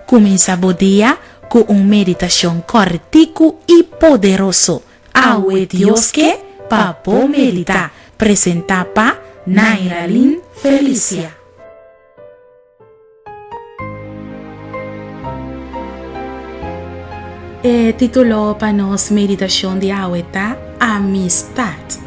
Cuminsa bo dia cu un meditacion corticu y poderoso Awe Dios Ke Pa Bo Medita! presenta pa Nairalyn Felicia. E titulo pa nos meditashon di awe ta Amistat.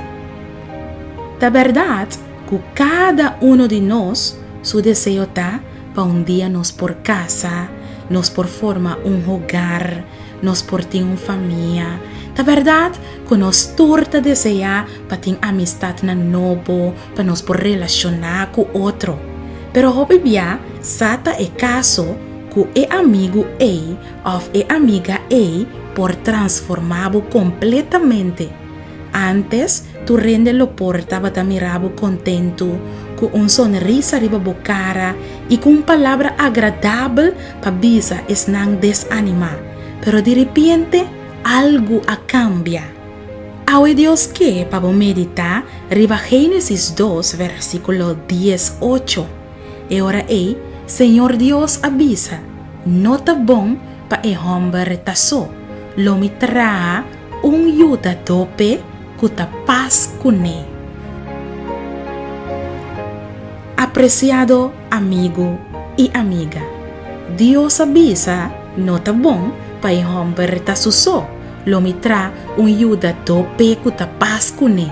Ta bèrdat ku kada unu di nos su deseo ta pa un dia nos por kasa, nos por forma un hogar, Nos por tin un famia. Ta bèrdat ku nos tur ta deseá pa tin amistatnan nobo pa nos por relashoná ku otro. Pero hopi bia sa ta e kaso ku e amigu ei òf e amiga ei por transformá bo kompletamente. Ántes Tur hende lo por tabata mira bo kontentu, ku un sonrisa riba bo kara i ku un palabra agradabel pa bisa esnan desanimá. Pero di ripiente algu a kambia. Awe Dios ke pa bo meditá riba Génesis dos, versíkulo dies ocho. E ora ei, Señor Dios a bisa, No ta bon pa e hòmber ta so. Lo mi traha. Un yudadó p'e ku ta pas kuné. Apresiado amigu i amiga, Dios a bisa no ta bon pa e hòmber ta su so, lo mi tra un yudadó p'e ku ta pas kuné.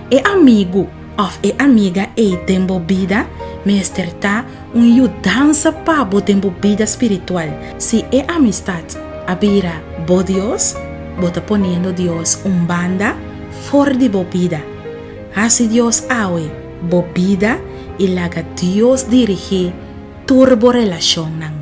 E amigu. òf e amiga ei den bo bida mester ta un yudansa pa bo den bo bida spiritual. Si e amistat a bira bo dios, bo ta poniendo Dios un banda for di bo bida. Hasi Dios awe bo bida i laga Dios dirigí tur bo relashonnan.